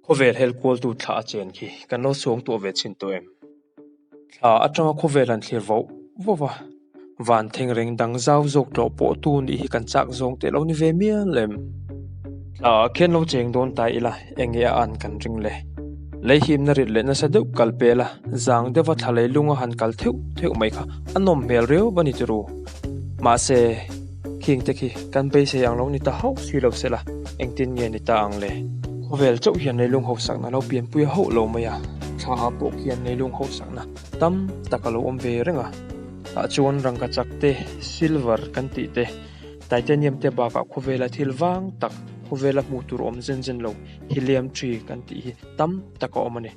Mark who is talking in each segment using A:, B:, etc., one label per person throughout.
A: Khawvel hel kualtu thla a chen khi kan lo suang tuah ve chin tawh em? Thla atanga khawvel an thlir vauh vauh a, vantheng reng dang zau zawk tlawh pawh tu nih hi kan chak zawng teh lo ni ve mial em? Thla a khian lo cheng dawn ta ila eng nge a an kan ring le? Lei himna rit leh nasa deuh kal pela zang deuha thla leilunga han kal theuh theuh mai kha a nawm hmel riau bani turu Mahse, khing te khi kan beisei ang lo ni ta hauh si lo sela, engtin nge ni ta ang le? Khawvel chauh hian leilung hausakna lo pianpuia hauh lo mai a, thlaah pawh khian leilung hausakna tam tak a lo awm ve reng a. Tah chuan rangka chak te, silver kan tih te, titanium te bakah khawvela thil vang tak, khawvela hmuh tur awm zen zen lo, helium thi kan tih hi tam tak a awm a ni.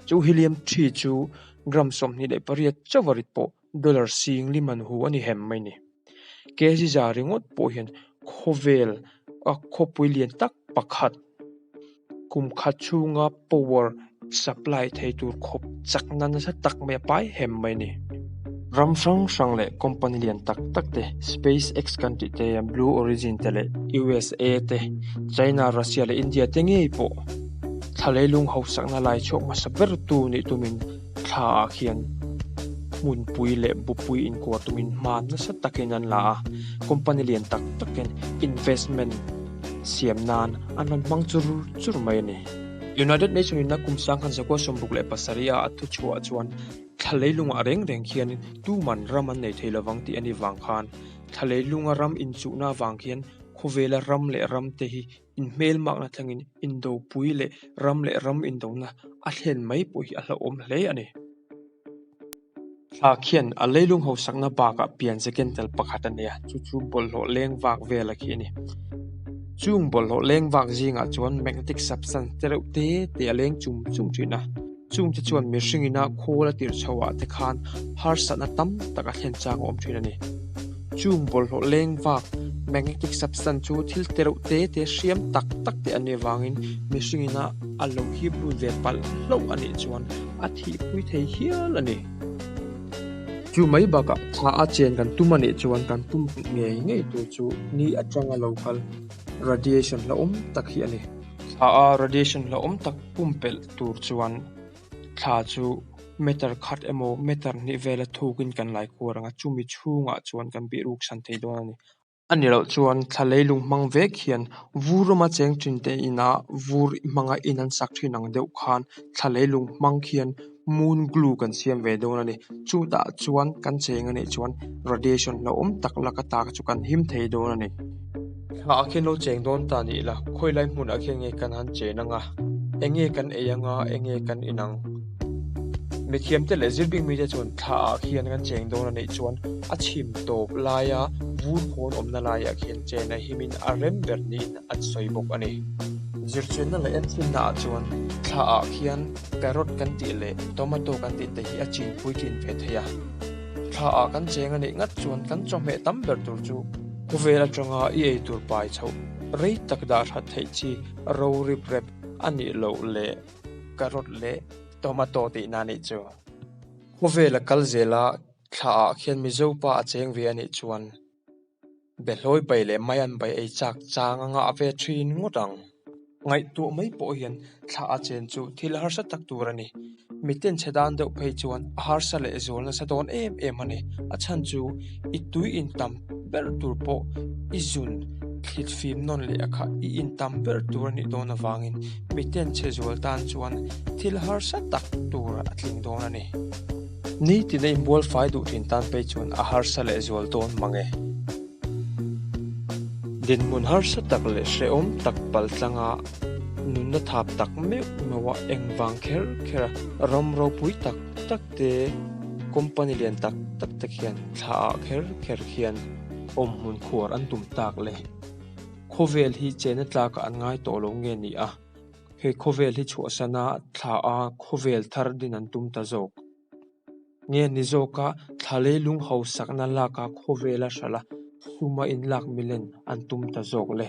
A: Chu helium thi chu gram sawmhnih leh pariat chauh a rit pawh Dollar sing li man hu a ni hem mai ni. Kziza ringawt pawh hian khawvel a khawpui lian tak pakhat kum khat chhunga power supply thei tur khawp chak na nasa tak mai a pai hem mai ni. Ram hrang hrang leh company lian tak tak te, Space X kan tih te hian Blue Origin te leh usa te, China, Russia leh India te ngei pawh thla leilung hausakna laichhuak hmasa ber tu nih tumin, Thla ah khian hmunpui leh bupui inkuah tumin hma nasa takin an la a, company lian tak takin investment siam nan an rawn hmang chur chur mai a ni. United Nations in a kum sang khan Zakua sawmbuk leh pasarih a a thu chhuah chuan thla leilungah reng reng khianin tuman ram an nei thei lovang tih a ni vang khan thla leilunga ram inchuhna avang khian khawvela ram leh ramte hi in hmel makna thlengin indopui leh ram leh ram indona a thlen mai pawh hi a hlauhawm hle a ni. Thlak hian a leilung hausakna bakah pian zeken tel pakhat a nia, chu chu bawlhhlawh leng vak vela khi a ni. Chung bawlhhlawh leng vak zingah chuan magnetic substance te reuh te te a leng chum chum thin a. Chungte chuan mihring ina khawl a tirh chho ah te khan harsatna tam tak a thlen chang a awm thin a ni. Chung bawlhhlawh leng vak, magnetic substance, chu thil te reuh te te hriam tak tak te an nih avang in mihring ina a lo hip lut ve palh hlauh a nih chuan a thih pui thei hial a ni. Chu mai bakah thla a chen kan tum a nih chuan kan tum pih ngei ngei tur chu ni atanga lo kal, radiation, hlauhawm tak hi a ni. Thla a radiation hlauhawm tak pumpelh tur chuan thla chu matter khat emaw matter hnih vela thukin kan laikhuar ang a, chumi chhungah chuan kan bihruksan thei dawn a ni. A ni loh chuan thla leilung hmang vek hian vur rama cheng thin te inah vur hmanga in an sak thin ang deuh khan thla leilung hmang khian moon glue kan siam ve dawn a ni chutah chuan kan cheng a nih chuan radiation hlauh awm tak laka ta chu kan him thei dawn a ni thla ah khian lo cheng dawn ta nih la khawi lai hmun ah khian nge kan han che nang a eng nge kan ei anga eng nge kan inang mithiam te leh zir ding mite chuan thla ah khian kan cheng dawn a nih chuan a chhim tawp laia vu khawn awmna laiah khian chen a him in a rem ber niin an sawi bawk a ni zirchenna leh enchhinna ah chuan thla ah khian-- Carrot kan tih leh Tomato kan tih te hi a chin pui tlin ve thei a, thla ah kan cheng a nih ngat chuan kan chawhmeh tam ber tur chu. Khawvel atanga i ei tur pai chho rei tak dah hrat theih chi ro rip rep a nih loh leh Carrot leh Tomato tih na nih chu. Khawvel a kal zel a, thla ah khian Mizo pa a cheng ve a nih chuan. Be hlawi pai leh mai an bai ei chak chang anga a ve thin ngawt ang. Ngaihtuah mai pawh hian thla a chen chu thil harsa tak tur a ni. Miten chhe dan deuh phei chuan a harsa leh zual nasa dawn em em a ni. A chhan chu i tui in tam ber tur pawh i zun thlit fim nawn leh a kha i in tam ber tur a nih dawn avangin miten chhe zual tan chuan thil harsa tak tur a tling dawn a ni. Ni tina in bualfai duh thin tan pei chuan a harsa leh zual dawn mang e. Dinhmun harsa tak leh hrehawm tak pal tlanga nunna thap tak meuh noa engvang kher khera ram ropui tak tak te company lian tak tak tak hian thla ah kher kher hian awm hmun khuar an tum tak le. Khawvel hi chehna tlak ah an ngai tawh lo nge ni a. Hei khawvel hi chhuahsana thla a khawvel thar din an tum ta zawk. Nge ni zawka thla leilung hausakna laka khawvela hrala suma in lak milen an tum ta zawk le?